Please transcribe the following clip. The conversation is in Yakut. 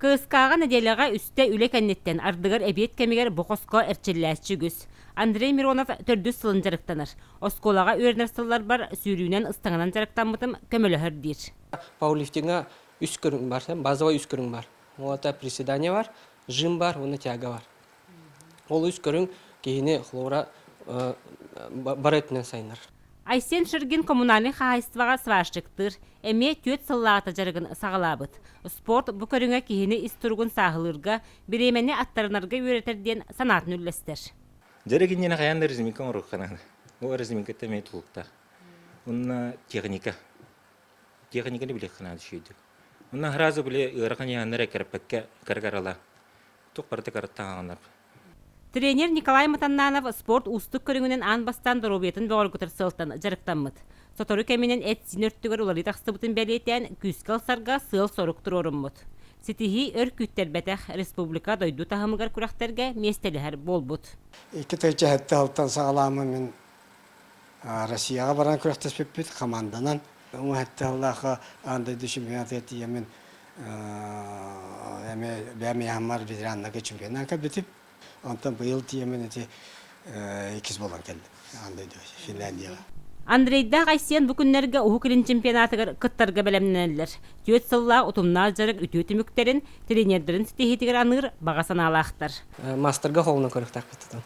КСК-ҕа нэдиэлэҕэ үстэ үлэ кэнниттэн ардыгар эбиэт кэмигэр бу хоско эрчиллээччи үгүс. Андрей Миронов төрдүс сылын дьарыктанар. Оскуолаҕа үөрэнэр сылларбар сүүрүүнэн ыстаҥанан дьарыктаммытым көмөлөһөр диир. Пауэрлифтиҥҥа үс көрүҥ бар, базовай үс көрүҥ бар. Вот председание бар, жим бар, уонна тяга бар. Олус көрүҥ киһини хлора бары өттүнэн сайынар. Айсен Ширгин коммунальнай хаһаайыстыбаҕа сварщиктыыр, эмиэ түөрт сыллаата дьарыгын саҕалаабыт. Спорт бу көрүҥэ киһини ис туругун сааһылыырга, бириэмэни аттарынарга үөрэтэр диэн санаатын үллэстэр. Дьарык иннинэ хайаан да резинка оҥорорхо Бу резинкаттан эмиэ тулуктаах. Онно техника. Техниканы билиэххэ наада үчүгэйдик. Онно сразу били ыарахан яаннары кэрпэккэ каргарала. Тук барыта каратта хаганар. Тренер Николай Матаннанов спорт уустук көрүҥүнэн аан бастаан доруобуйатын бөҕөргөтөр сыалтан дьарыктаммыт. Сотору кэминэн эт-сиин өртүгэр уларыы тахсыбытын бэлиэтээн, күүскэ ылсарга сыал-сорук туруоруммут. Ситиһии өр күүттэрбэтэх, республика дойду таһымыгар күрэхтэргэ миэстэлэһэр буолбут. Икки тыһыынча сэттэ алтан саҕалаама мин Россияҕа баран күрэхтэспиппит хамаанданан уҥуһэт тыаллаахха аан дойду чемпионатыгар тиийэммин эмиэ бэйэм иэһэммар ветераннарга чемпионатка кэлбитим онтон быйыл тиийэммин ити иккис буолан кэллим аан дойду Финляндияҕа Андрейдаах Айсен бу күннэргэ Уһук Илин чемпионатыгар кыттарга бэлэмнэнэллэр. Түөрт сыллаах утумнаах дьарык үтүө түмүктэрин, тренердэрин ситиһиитигэр аныыр баҕа санаалаахтар. Маастарга холунан көрүөхтээх кыттытын.